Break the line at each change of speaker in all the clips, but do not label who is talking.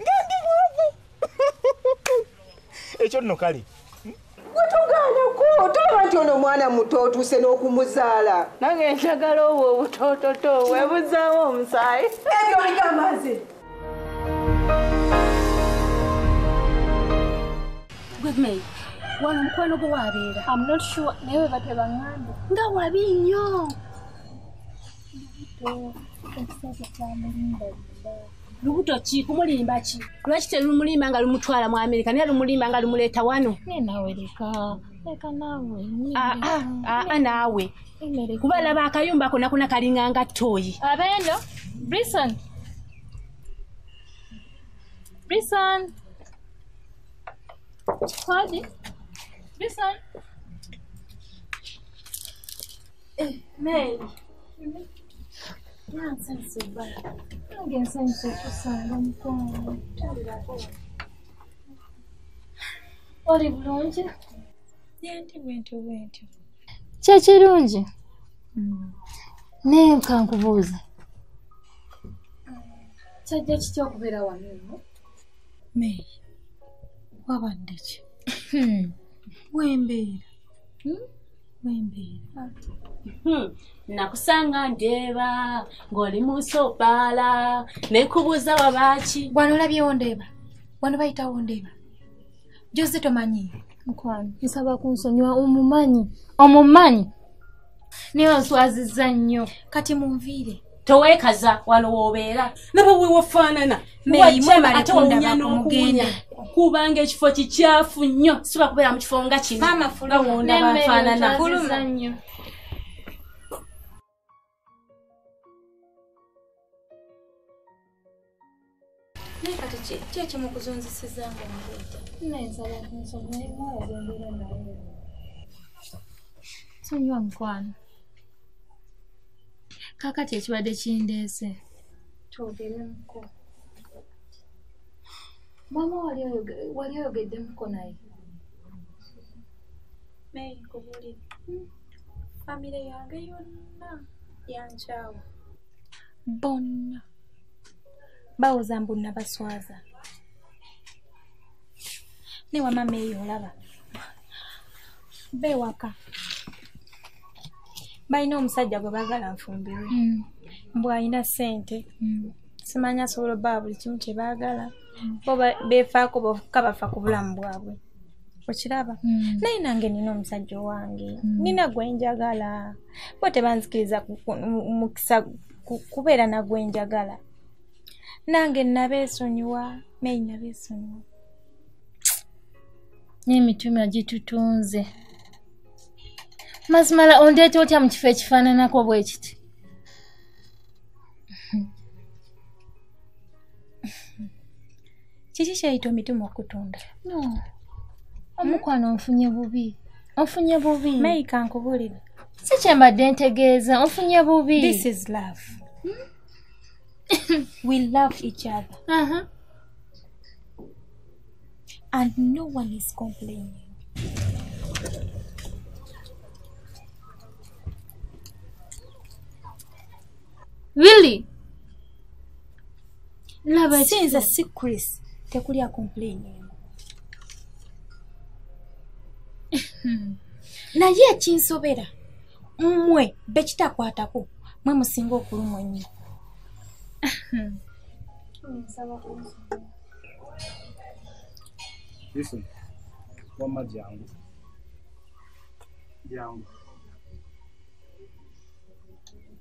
nga ndi mwavu ekyo nno kale wetugaanako
tolaba nti ono omwana muto otuuse n'okumuzaala nange njagala
obwo obutoototo webuzaawo omusaayi ebyo oligamaze
gwemei wano omukwano gwe wabeera am not sure naye webate baŋambe nga wabi nnyo lubuto ki kumulimba ki lwaki terumulimba nga lumutwala mu amerika naye lumulimba nga lumuleeta wano
aa
naawe kuba laba akayumba kona kona kalinga nga toyi abeno
brison brison kodi brison
Eh, Mary. Nonsense, Obara. Nange nsanyusa okusanga
mukwano. Oli bulungi? Yendi bwentyo bwentyo.
Kyekirungi.
Hmm. Naye nkankubuuza.
Kyajja kitya okubeera wano eno? May,
wabadde ki? Hmm. Wembeera. Hmm? wembeera hmm,
nakusanga ndeeba ng'oli mu nsi obbaala nekubuuza wabaaki wano olabyewo ndeeba
wano bayitawo ndeeba joze tomanyi mukwano
nsaba kunsonyiwa omumanyi omumanyi naye onswaziza nnyo kati munviire
tewekaza
wano wobeera naba wewafaanana
ate
wawunya n'okuwunya kubanga ekifo
kikyafu nnyo siba kubeera mu kifo nga kinowonda
bafaanana naye kati ki ekimu kuzunzisiza nga omuleeta nayensaba kunsoma
naye mwala gwembeera naye sonyiwa mukwano kakati ekibadde kindeese twogeremuko maama wali oyogeddemuko naye
naye kubuli hmm. famire yange yonna yankyawa bonna bawoza mbu nabaswaza ne wamama eyo olaba bewaka balina omusajja gwe bagala nfumbirwe mm. mbu alina sente mm. simanya asobola obaa buli kimu kyebaagala mm. bo befaako boka bafa ku bulamu bwabwe okiraba mm. naye nange nina omusajja owange mm. nina gwenjagala bo tebanzikiriza mukisa kubeera nagwenjagala nange nabeesonyiwa naye nabeesonyiwa
n'emitima gitutunze mazima la ondeeta otya mu kifo ekifaananako bwe kiti
kiki kyeyita omitima okutunda no
omukwano onfunye bubi onfunye bubi
mayika nkubulire si kyembadde
ntegeeza onfunye bubi this is love
hmm? we love each other uh -huh. and no one is complaining really
laba sinza si chris
tekuli akomplaining naye ekinsobera mmwe bekitakwatako mwe musinga okulumwa ennyo
Listen, wamma jangu jangu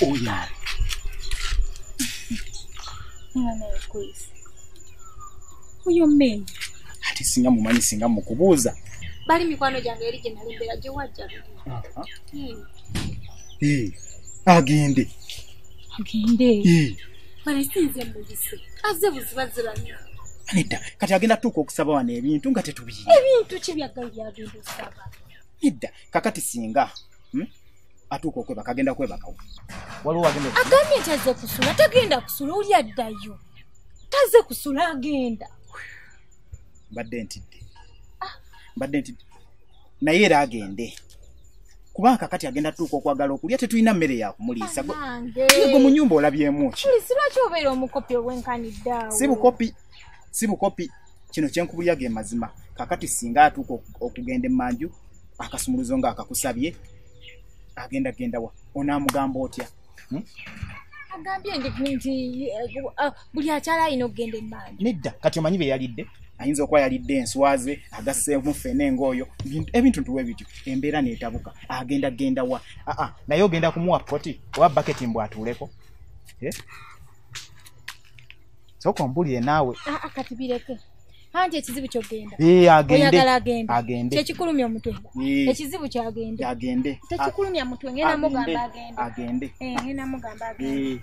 Uyar.
Mwana ya kwezi. Uyo mmenyi.
Ati singa mumanyi singa mukubuuza. Bali mikwano
gyange eri gye nali mbeera gye wajja.
Agende. agende
balesinze muyise aze buzibaziranya nedda kati
agenda tuuka okusaba wano ebintu nga tetubiyina ebintu ki byaggayo
byagenda okusaba nedda
kakati singa hmm? atuuka okwebaka agenda kwebakawo waliwo agenda agambye nti aze kusula
tagenda kusula oli addayo taze kusula agenda
mbadde ntidde ah. mbadde ntidde naye era agende kuba kakati agenda tuuka okwagala okulya tetulina mmere yakumuliisa go mu nyumba olabyemuki si
bukopi
si bukopi kino kyenkubulya ge mazima kakati singa atuuka okugenda emanju akasumuluzo nga akakusabye agenda gendawa onamugamba otya hmm?
agambye nti eh, buli akyala alina okugenda emmaali nedda kati omanyi bye
yalidde ayinza okuba yalidde enswaze agasseemu fene ngaoyo ebintu ntuwe bityo embeera neetabuka agenda genda wa aa naye ogenda kumuwa poti oba baketi mbw atuuleko eh? soka ombulire naawe ah, ah, kati bireke
anti ekizibu kyogenda eh, oyagala
agende kyekikulumya omutwe eh.
ekizibu kyagende tekikulumya mutwe ngenda mugamba agende eh, ngenda mugamba agende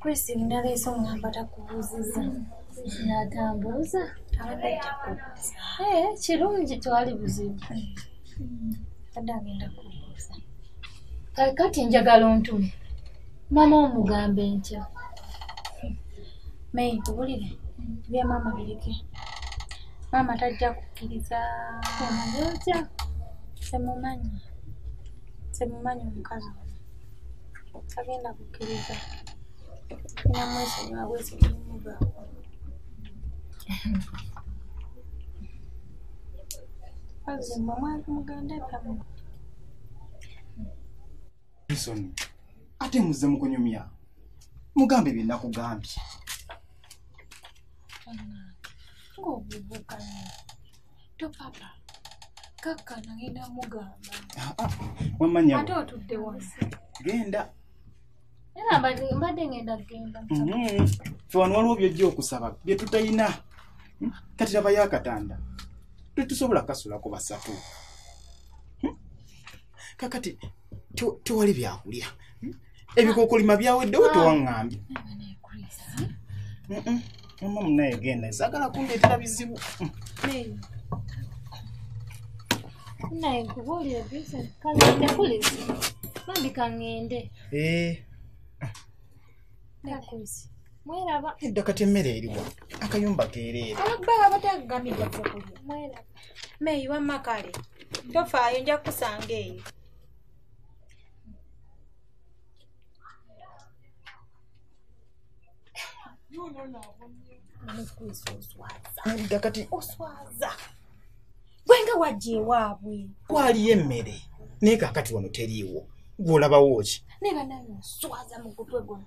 Chris naleese omwamba takubuuzizza
natambuuza eh,
kirungi twali buzibu
hmm.
adde agenda kubuuza
kati njagala ontume mama omugambe ntya mayi
nkubulire bya mama bireke mama tajja kukkiriza otya
temumanyi
temumanyi omukazi ono tagenda kukkiriza namwesonyiwa bwesonyimugawo kazi mwe mwali mugenda ebyamwe
Bison, ate muze mukunyumya mugambe bye nakugambye ah,
ah,
wamanyaate otudde
wansi genda
era mbadde ngenda genda mm-hmm. fe
wano waliwo byojja okusaba bye tutalina hmm? kati labayo akatanda tetusobola kasulako basatu kakati tewali byakulya hmm? ebikokolima byaweddewo ah. tewaŋambye mama munaye genda zagala kundeetera bizibu
naye nkubuulire vincent kazadde kulizi bambi kaŋŋende eh. mweraba edda kati emmere
eriwa akayumba keereera ababba abatagagamidde
kyokulya mweraba meyi wamma kale tofaayo nja kukusanga eyo
Nalidda kati oswaza
gwe nga wajja ewaabwe kwaliyo emmere
naye kakati wano teriiwo gw'olabawo ki naye banaye oswaza
mu gutwe guno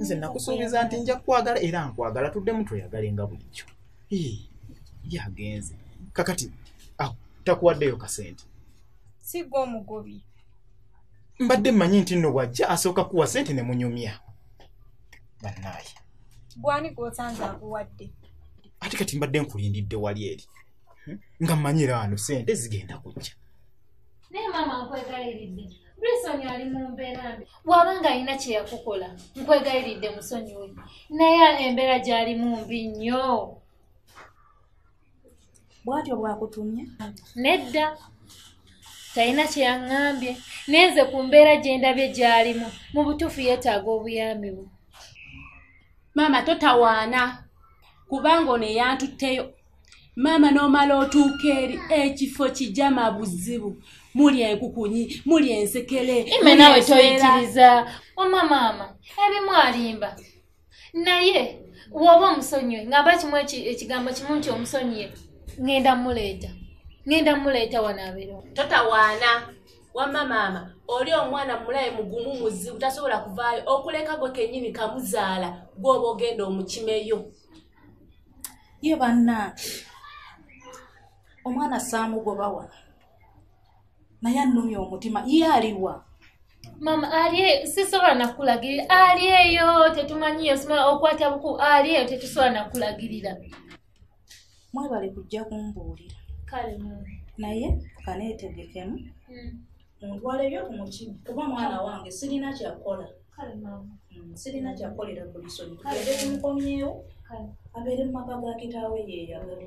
nze nakusuubiza nti nja kukwagala era nkwagala tuddemu tweyagale nga bulijjo yagenze kakati awo takuwaddeyo kasente sigwa
omugobi
mbadde mmanyi nti nno bwajja asooka kuwa sente ne munyumya bannaaye
gwani gwosanze akuwadde ate kati
mbadde nkulindidde wali eri hmm? nga mmanyira wano sente zigenda kujja naye
maama nkwegaliridde brisoni ali mu mbeera mbi bw'aba nga alina kye yakukola nkwegaliridde musonyiwe naye embeera gy'alimu mbi nnyo
bwatyo bwakutumye nedda
talina kye yaŋŋambye naye nze ku mbeera gye ndabye gy'alimu mu butuufu yeetaaga obuyambi bwe
maama totawaana kubanga ono eyantutteyo maama n'omala otuuka eri ekifo kijama buzibu muli enkukunyi muli ensekere ime nawe
toyitiriza wama maama ebimu alimba naye woba omusonyiwe ngamba kimu ekigambo kimu nti omusonyiye ŋenda muleeta ŋenda muleeta wanaabiro totawaana
wamma maama oli omwana mulaye mugumu muzibu tasobola kuvaayo okuleka gwe kenyini kamuzaala gwoba ogenda omukimeyo
ye bannange omwana saamugoba wano naye annumya omutima ye aliwa mama
alye sisobola nakulagirira alyeyo tetumanyiyo sima okwata buku alyeyo tetusobola nakulagirira
mwebale kujja kumbuulira kale
naye
kaneetegekemu hmm. muntwale byo ku mutima kuba mwana wange sirina kyakukola
hmm, sirina kyakukolera
ku lisoni tugende tumukomyewo abeere
mu maka ga
kitaawe yeeyagala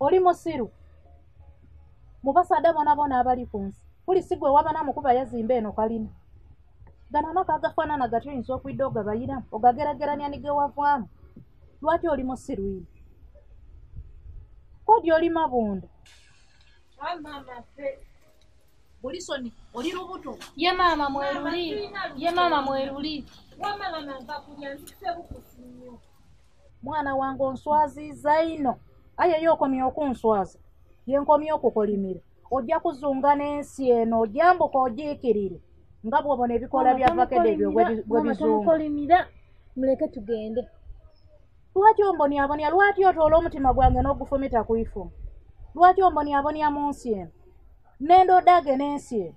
oli musiru mubasada bona bona abali ku nsi kuli sigwe wabana mukuba yazimba eno kalina gano amaka agafaanana gati oyinza okwidde ogabayiramu ogagerageranya nigewavaamu lwaki oli musiru ino kodi oli mabunda
bulisoni
oli lubuto ye maama mweruli
ye maama mweruli wamala
nangakulya nzise bukusinyo mwana
wange onswaziza ino aye yo okomye okunswaza yenkomye okukolimira ojja kuzunga n'ensi eno ojambuka ogiikirire nga bwobona ebikola bya vakede ebyo bwebizunga muleke
tugende lwaki
ombonyabonya lwaki otoola omutima gwange n'ogufumita ku ifumu lwaki ombonyabonya mu nsi eno nendodage n'ensi eno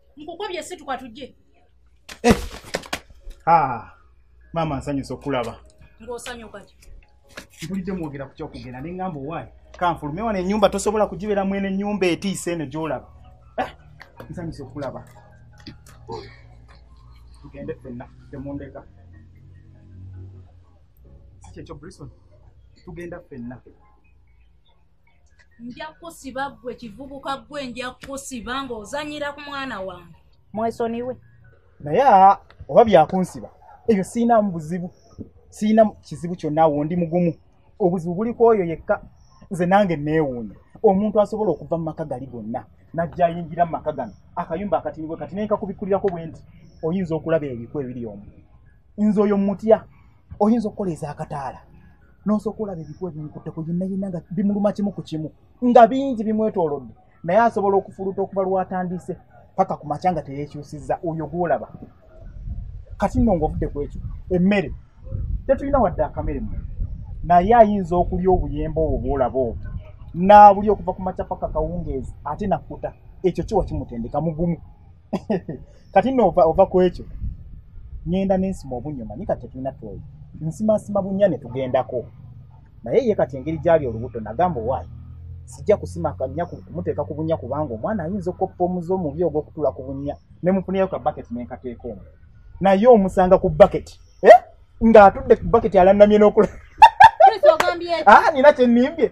nkukobye situka tujje eh. ah,
maama nsanyusa okulaba
ngaosanyukaki mpulidde
mwogera ku kyokugenda ne ŋŋamba owaayi kanfulume wano ennyumba tosobola kugibeera mwene ennyumba etiisa eno gyolaba eh, nsanyusa okulaba tugende fenna temundeka sikyekyo brison tugenda fenna
nja kusiba gwe kivubuka gwe nja kusiba ng'ozanyira ku mwana wange mwesoniwe naye
oba byakunsiba ebyo siinamu buzibu siina kizibu kyonna awo ndi mugumu obuzibu buli ku oyo yekka nze nange neewuunya omuntu asobola okuva mu maka gali gonna najja ayingira mu maka gano akayumba akatinibwe kati naye nkakubikkulirako bwe nti oyinza okulaba ebiku ebiri omu nze oyo mutya oyinza okukola ez'akataala n'osooka olaba ebikuba bimukutte ku yinnayinna nga bimuluma kimu ku kimu nga bingi bimwetoolodde naye asobola okufuluta okuva lwatandise paka ku makya nga teyekyusizza oyo gwolaba kati nno ngaovudde ku ekyo emmere tetulina wadde akamere mu naye ayinza okulya obuyemba obwo bwolaba obwo naabuli okuva ku makya paka kawungeezi ate nakkuta ekyo kiwa kimutendeka mugumu kati nno ova ku ekyo ŋenda nensima obunnyo manyi kati tetulina twoyo nsimansima bunnya ne tugendako naye ye kati engeri gyali olubuto nagamba owaayi sijja kusima kanya kumuteeka ku bunnya kubanga omwana ayinza okukoppa omuze omubi ogw'okutuula ku bunnya ne mufunirayo ka baketi nenkateeka omu naye omusanga ku baketi eh? ng'atudde ku baketi alanamye n'okula ah, nina kyenimbye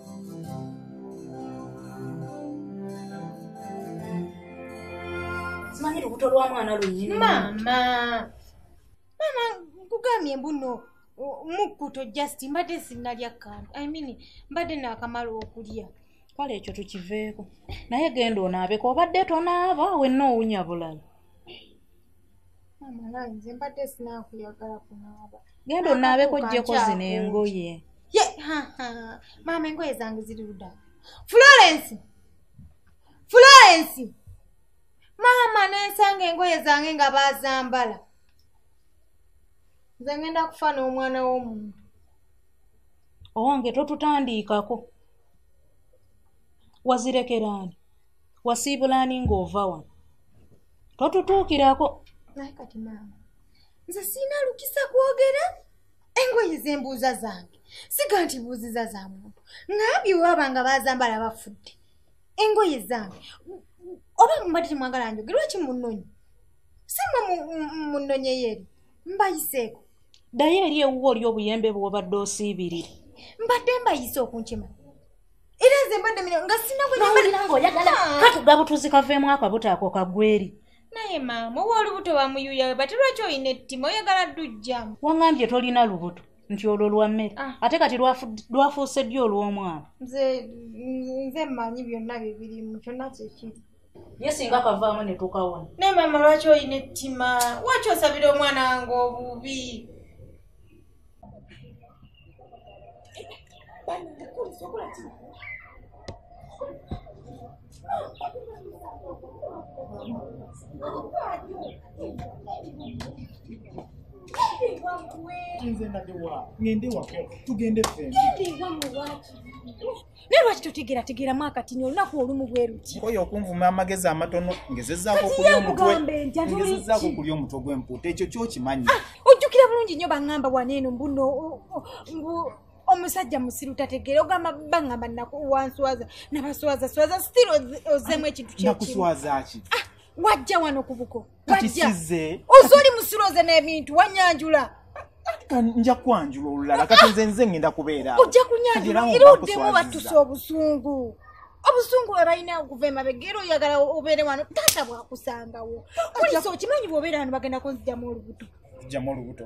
simanyi lubuto lwa mwana lunyini
maama maama nkugambye mbuno mukkuto just mbadde sinnalya kantu i mean mbadde naakamala okulya kale ekyo
tukiveeko naye genda onaabeko obadde tonaaba wenna owunya bulala
nze mbadde sinakuyagala kunaaba genda onaabeko
jjeko zino engoye ye
maama engoye zange ziri luda florence florence maama nensanga engoye zange nga bazambala nze ngenda kufa n'omwana w'omuntu
owange totutandiikako wazirekeraani wasiibulaani ng'ova wano totutuukirako naye kati maama
nze siina lukisa kwogera engoye zembuuza zange siga nti buuziza za muntu ngambye waba nga bazambala bafudde engoye zange oba mubadde temwagala njogera waki munonyi simwe munonyeyeeri mbayiseeko ddayo eri
ewuwo oli obuyembe bwobadde osiibirire mbadde
mbayise okunkima era nze mbadde mino nga sinawulira nga oyagala ah. katuga
butuzi kaveemu ako butaako kagweri naye maama
owa olubuto wamuyuya we bati lwaki olina ettima oyagala dujjamu wangambye tolina
lubuto nti olwo lwa mmere ah. ate kati lwafuuse ddi olw'omwana
nze mmanyi byonna bibirimu kyonna kyekiri ye singa
kavaamu ne tukawona naye maama lwaki olina
ettima waki osabira omwana wange obubi nze nadewa ngende wako tugende fe naye lwaki totegeerategeeramu akatini olunaku olumu bwe luti oyo okunvuma amagezi
amatono ngezezaako okulya omutwe gw'empuuta ekyo kyokimanyi ah, ojjukira bulungi
nnyo baŋŋamba waneeno mbuno omusajja musiru tategeera ogamba baŋŋamba nakuwanswaza nabaswaza swaza stil ozemu ekintu kyekimu nakuswaza ki
ah, wajja wano
ku buko bajja
oze oli musiroze
n'ebintu wanyanjula nja
kwanjula olulala kati nze nze ngenda kubeera ojja kunyanjula
era oddemu batuse obusungu obusungu bwe balina okuva emabega era oyagala obeere wano taata bwakusangawo kulisa okimanyi bwobeera wano bagenda kunzijamu olubuto zijamu olubuto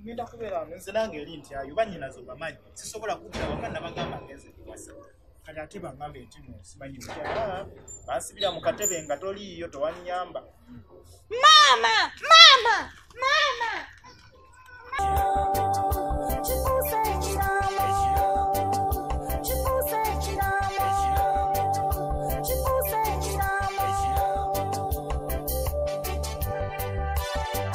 ngenda
kubeera wano nze nange eri nti ayo banyinaze obamanyi sisobola kudda waka nabagamba ngenze kuwasa kati ate baŋambe nti nosimanyi ah, bansibira mu katebe nga toliiyo tewanyamba maama
maama maama